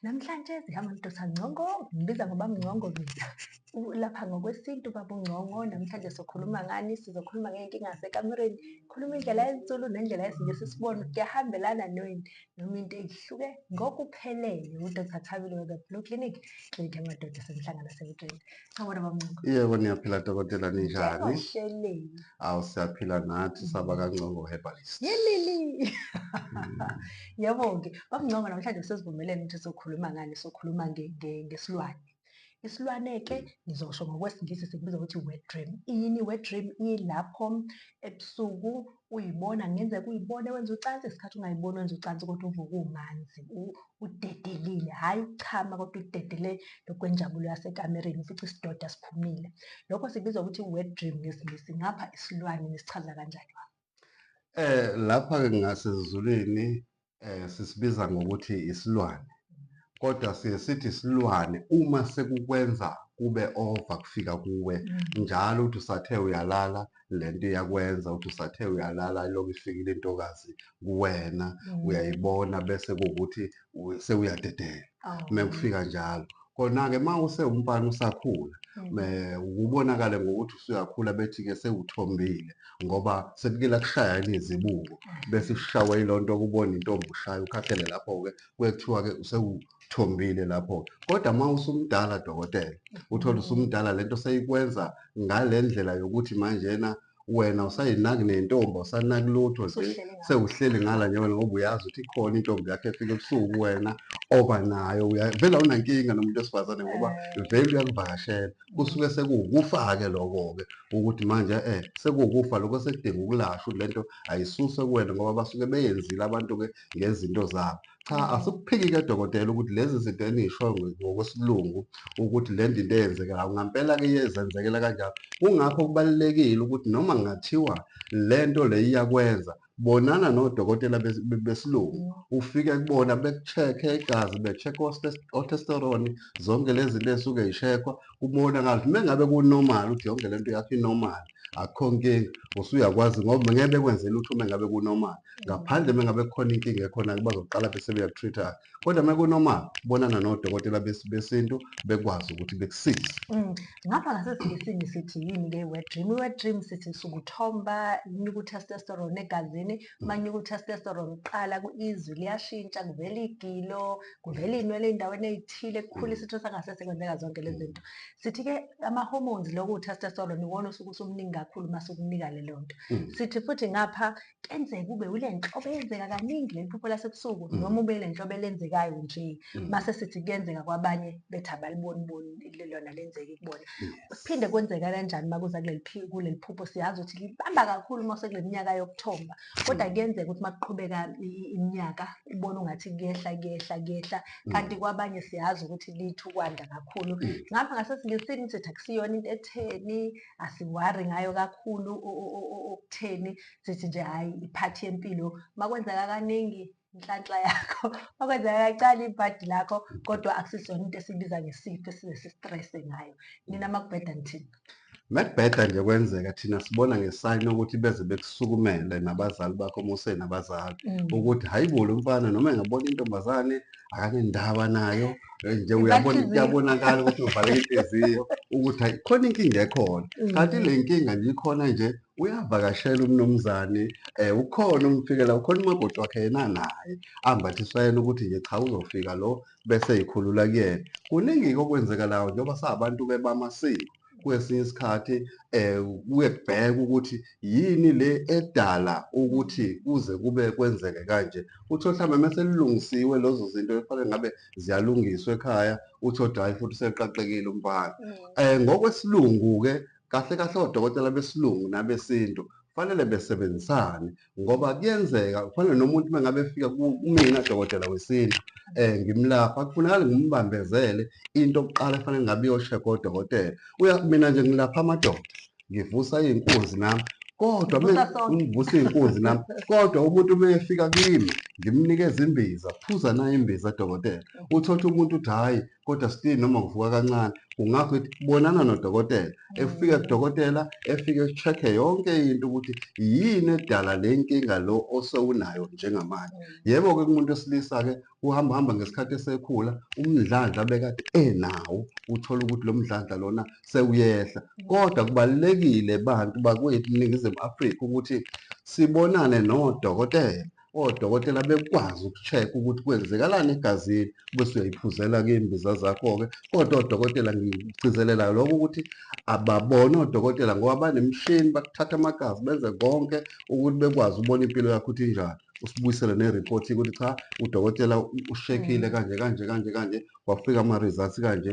Namhlanje zihamba ndoda Ngcongo, ngibiza ngoba Mngcongo mina. Lapha ngokwesintu baba uNgcongo, namhlanje sokhuluma ngani, sizokhuluma ngey'nkinga zasekamereni. Khuluma indlela yesiZulu nendlela yesiNgisi sibone ukuthi kuyahambelana noyini noma into ehluke ngokuphelele. UDr Thabile we-The Blue Clinic, klinikhi yamadoda esemhlangana esemgqeni. Awona bamncoko. Yebo niyaphila dokotela ninjani? Njengohleleni. Awu siyaphila nathi saba kaNgcongo Herbalist. Yelili. Yebo-ke, bamncoko namhlanje sesivumelene ukuthi sokhuluma ngani, sokhuluma nge- nge- ngesilwane. Isilwane-ke ngizosho ngokwesiNgisi sikubiza ukuthi i-wet dream. Iyini i-wet dream? Ilapho ebusuku uyibona kungenzeka uyibone wenza ucansi isikhathi ungayiboni wenza ucansi kodwa uvuke umanzi udedelile hhayi ukuchama kodwa udedele lokwenjabulo yasekamereni ufica isidoda siphumile lokho sibizwa ukuthi wet dream ngesingisi ngapha isilwane nisichaza kanjani eh lapha-ke ngasezulwini eh sisibiza ngokuthi isilwane kodwa siye sithi isilwane uma sekukwenza kube over kufika kuwe mm. njalo uthi usathe uyalala lento iyakwenza uthi usathe uyalala lokhu ifikile intokazi kuwena mm. uyayibona bese kuwukuthi sewuyadedela mekufika njalo kona-ke uma usewumfana usakhula ukubonakale mm. ngokuthi usuyakhula bethi-ke sewuthombile ngoba sekuke lakushaya izibuko bese ushawa yilo nto kubona intombi ushaya ukhathele lapho-ke kwekuthiwa-ke usewuthombile lapho-ke kodwa uma usumdala dokotela uthole usumdala le nto seyikwenza ngale ndlela yokuthi manjena wena usayinaki nentombi usanaki lutho nje sewuhleli ngala nje wena ngoba uyazi ukuthi ikhona intombi yakhe efika ebusuku wena oba nayo vele awunankinga nomuntu wesifazane ngoba eh. vele uyakuvakashela kusuke sekuwukufa-ke loko-ke ukuthi manje um sekuwukufa lokho sekudinga ukulashwa ukuthi le nto ayisuswe kuwena ngoba basuke beyenzile abantu-ke ngezinto zabo. Cha, mm. asikuphiki-ke dokotela ukuthi lezi zinto enisho ngokwesilungu ukuthi le nto into eyenzekelayo ngampela-ke iyezenzekela kanjalo. Kungakho kubalulekile ukuthi noma ngathiwa le nto le iyakwenza bonana nodokotela besilungu mm. ufike kubona beku-check-e igazi be-check otesterone zonke lezi zinto ey'suke y'shekhwa kubonakala ukuthi uma ngabe kunomali ukuthi yonke le nto yakho inomali akukho nkinga usuyakwazi ngoba ngeke bekwenze lutho uma ngabe kunormal ngaphandle uma ngabe kukhona inkinga ekhona-ke bazoqala bese beyaku-treat-a kodwa uma kunormal bonana nodokotela bes- besintu bekwazi ukuthi bekusize Mm. ngapha ngasesiNgisini sithi yini ke i-wet dream i-wet dream sithi sukuthomba kunyuka u-testosterone egazini uma kunyuka u-testosterone kuqala ku- izwi liyashintsha kuvela igilo kuvela iy'nwele ey'ndaweni ey'thile kukhula isitho sangasese kwenzeka zonke lezi zinto sithi ke ama hormones lokho utestosterone iwona osuke usumningi kakhulu mase ukunika le lonto mm. sithi futhi ngapha kenzeka kube ule nhlobo eyenzeka kaningi leli phupho lasebusuku mm. noma ube le nhlobo elenzekayo nje mm. mase sithi kuyenzeka kwabanye bethi abaliboni boni lona lenzeki kubona kuphinde kwenzeka kanjani makuza kuleli kuleli phupho siyazi ukuthi libamba kakhulu mase kuleminyaka yokuthomba kodwa mm. kuyenzeka ukuthi makuqhubeka iminyaka ubona ungathi kuyehla kuyehla kuyehla mm. kanti kwabanye siyazi ukuthi lithi ukwanda kakhulu mm. ngapha ngasesilesini sithi akusiyona into etheni asiwari ngayo kakhulu okutheni sithi nje hhayi iphathi yempilo makwenzeka kaningi inhlanhla yakho okwenzeka kacala ibhadi lakho kodwa akusizona into esibiza ngesifo esize sistresse ngayo nina makubheda nithini mekubheda nje kwenzeka thina sibona ngesayini ukuthi beze bekusukumele nabazali bakho muse nabazali mm. ukuthi hayi bo lo mfana noma engabona intombazane akanendaba nayo eh, nje uyabona kuyabonakala ukuthi uvaleke inhliziyo ukuthi hayi khona inkinga ekhona mm. kanti le nkinga nje ikhona nje uyavakashela umnumzane um ukhona umfikela ukhona umakoti wakhe yena naye ambathiswa yena ukuthi nje cha uzofika lo bese yikhulula kuyena kuningi-ke okwenzekalayo njengoba sabantu-ke bamasiko kwesinye isikhathi um kuye kubhekwe ukuthi yini le edala ukuthi kuze kube kwenzeke kanje uthole mhlawumbe mese lilungisiwe lezo zinto efanele ngabe ziyalungiswa ekhaya uthole hhayi futhi seqaqekile umfana um ngokwesilungu-ke Kahle kahle odokotela besilungu nabesintu kufanele besebenzisane ngoba kuyenzeka kufanele nomuntu uma ngabe efika kumina dokotela wesintu um ngimlapha kufunakale ngimbambezele into okuqala efanele ngabe iyoshekha odokotela uya mina nje ngilapha amadoda ngivusa iy'nkunzi nami kodwa ngivusa iy'nkunzi nami kodwa umuntu uma efika kimi ngimnikeza imbiza phuza nayo imbiza dokotela uthotha umuntu uthi hhayi kodwa still noma kuvuka kancane kungakho ithi bonana nodokotela mm. efike kudokotela efike check-e yonke into ukuthi yini edala le nkinga lo osewunayo njengamanje mm. yebo-ke kumuntu wesilisa-ke uhamba hamba ngesikhathi esekhula umdlandla bekade enawo uthola ukuthi lo mdlandla lona sewuyehla mm. kodwa kubalulekile bantu bakwethu ningizimu afrika ukuthi sibonane nodokotela Odokotela bekwazi uku-check-a ukuthi kwenzekalani egazini, bese uyayiphuzela ke imbiza zakho-ke. Kodwa odokotela ngikugcizelelayo lokho ukuthi ababone odokotela ngoba banemishini, bakuthatha amagazi benze konke ukuthi bekwazi ukubona impilo yakho ukuthi injani. Usibuyisele ne-report-ke ukuthi cha udokotela ushekile kanje kanje kanje kanje, kwafika ama-results kanje,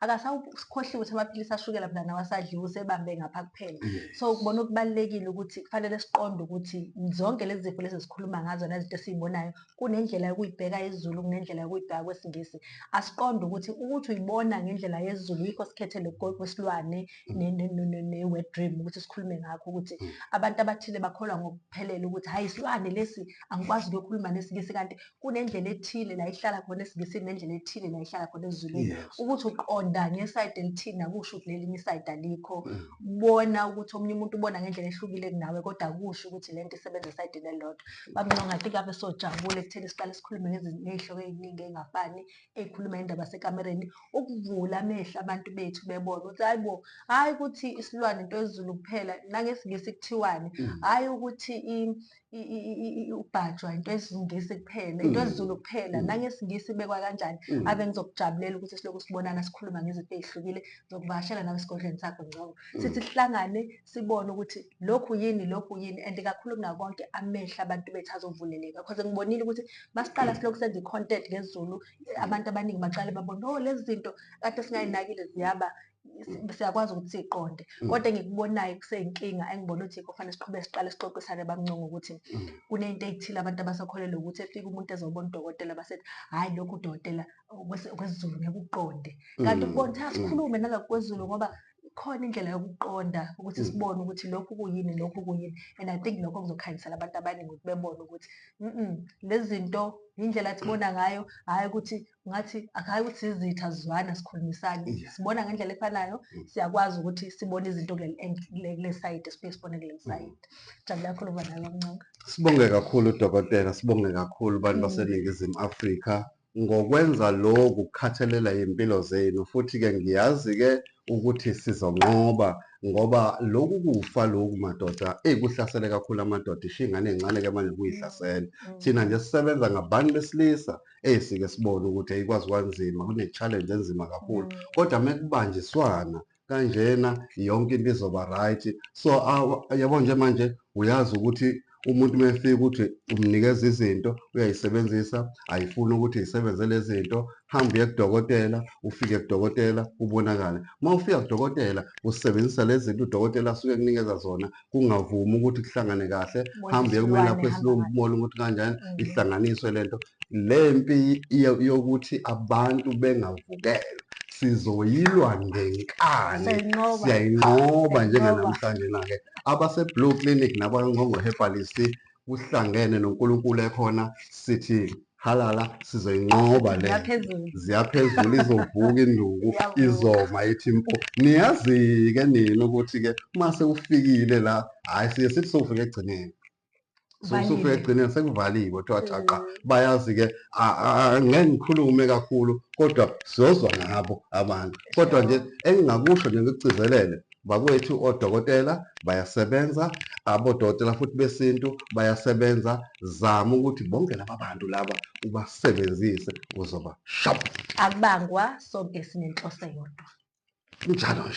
akasakhohliwe ukuthi amaphilisi ashukela phela nawo asadliwa usebambe ngapha kuphela so ukubona okubalulekile ukuthi kufanele siqonde ukuthi zonke lezi zifo lezi zikhuluma ngazo nezinto esiyibonayo kunendlela yokuyibheka yezulu kunendlela yokuyibheka kwesingisi asiqonde ukuthi ukuthi uyibona ngendlela yezulu yikho sikhethe lokwesilwane ne-wet dream ukuthi sikhulume ngakho ukuthi mm. abantu abathile bakholwa ngokuphelele ukuthi hayi isilwane lesi angikwazi ukuyokhuluma nesingisi kanti kunendlela ethile la ihlala khona esiNgisini nendlela ethile la ihlala khona esiZulwini Yes. ukuthi uqonda ngesayidi elithini akusho ukuthi lelinye isayidi alikho Mm. bona ukuthi omunye umuntu ubona ngendlela ehlukile kunawe kodwa akusho ukuthi le nto isebenza esayidini elilodwa bamnqo ngathi kabe sojabule ekutheni siqale sikhulume ngezi- ngey'hloko ey'ningi ey'ngafani ey'khuluma indaba sekamereni ukuvula amehlo abantu bethu bebona ukuthi hayi bo hhayi ukuthi isilwane into yezulu kuphela nangesingisi kuthiwani Mm. hhayi ukuthi i- ubhajwa into esingisi kuphela into mm. esizulu kuphela mm. nangesingisi ibekwa kanjani mm. ave ngizokujabulela ukuthi silokhu sibonana sikhuluma ngezinto ezihlukile ngizokuvakashela nawe esigodlweni sakho ngcobo sithi sihlangane sibone ukuthi lokhu yini lokhu yini and kakhulu kunakonke amehla abantu bethu azovuleleka because ngibonile ukuthi masiqala silokhu senza i-content ngezulu abantu abaningi baqale babone oh lezi zinto kade singayinakile ziyaba siyakwazi ukuthi siqonde mm. kodwa engikubonayo kuseyinkinga engibona ukuthi yikho fanele siqhube siqale sixoxisane bamncunga ukuthi mm. kunento ethile abantu abasakholelwa ukuthi efika umuntu ezobona udokotela basethi hhayi lokhu udokotela kwesiZulu ngeke uqonde mm. kanti ukubona ukuthi asikhulume nangakwezulu ngoba khona indlela yokuqonda ukuthi mm. sibone ukuthi lokhu kuyini lokhu kuyini and i think lokho kuzokhanyisela abantu abaningi ukuthi bebone ukuthi mm lezi zinto indlela sibona ngayo hhayi ukuthi ngathi akayi ukuthi sizitha sizwana sikhulumisane sibona ngendlela efanayo mm. siyakwazi ukuthi sibone izinto kule sayidi siphinde sibone kule sayidi mm. jabula kakhulu uba nayo bamncanga sibonge kakhulu dokotela sibonge kakhulu abantu mm. baseningizimu afrika ngokwenza lokhu kukhathelela impilo zenu futhi-ke ngiyazi-ke ukuthi sizonqoba ngoba loku kufa loku madoda eyi kuhlasele kakhulu amadoda ishiya ingane encane ke manje kuyihlasela mm. thina nje sisebenza ngabantu besilisa eyi sike sibone ukuthi ayikwazi kwanzima kune-challenge enzima kakhulu mm. kodwa uma kubanjiswana kanjena yonke into izoba right so yabo nje manje uyazi ukuthi umuntu uma efika ukuthi umnikeza izinto uyayisebenzisa ayifuni ukuthi isebenze lezi zinto hamba uye kudokotela ufike kudokotela ubonakale uma ufika kudokotela usebenzisa lezi zinto udokotela asuke ekunikeza zona kungavumi ukuthi kuhlangane kahle hamba uye kumelaphi esilungu umona ukuthi kanjani mm. ihlanganiswe le nto le mpi yokuthi abantu bengavukelwa sizoyilwa ngenkani siyayinqoba njenganamhlanje na-ke abaseBlue Clinic nabayoNgqongqohepalisi kuhlangene noNkulunkulu ekhona sithi halala sizoyinqoba le ziyaphezulu izovuka induku izoma ithi mpo niyazi-ke nina ukuthi-ke uma sewufikile la hhayi siye sithi sowufika ekugcineni sewusufe egcineni sekuvaliwe kuthiwa thaqa mm. bayazi-ke ngeke ngikhulume kakhulu kodwa siyozwa ngabo abantu kodwa nje engingakusho nje ngikugcizelele bakwethu odokotela bayasebenza abodokotela futhi besintu bayasebenza zama ukuthi bonke laba bantu laba ubasebenzise uzoba shap akubangwa sonke sinenhloso yodwa njalo nje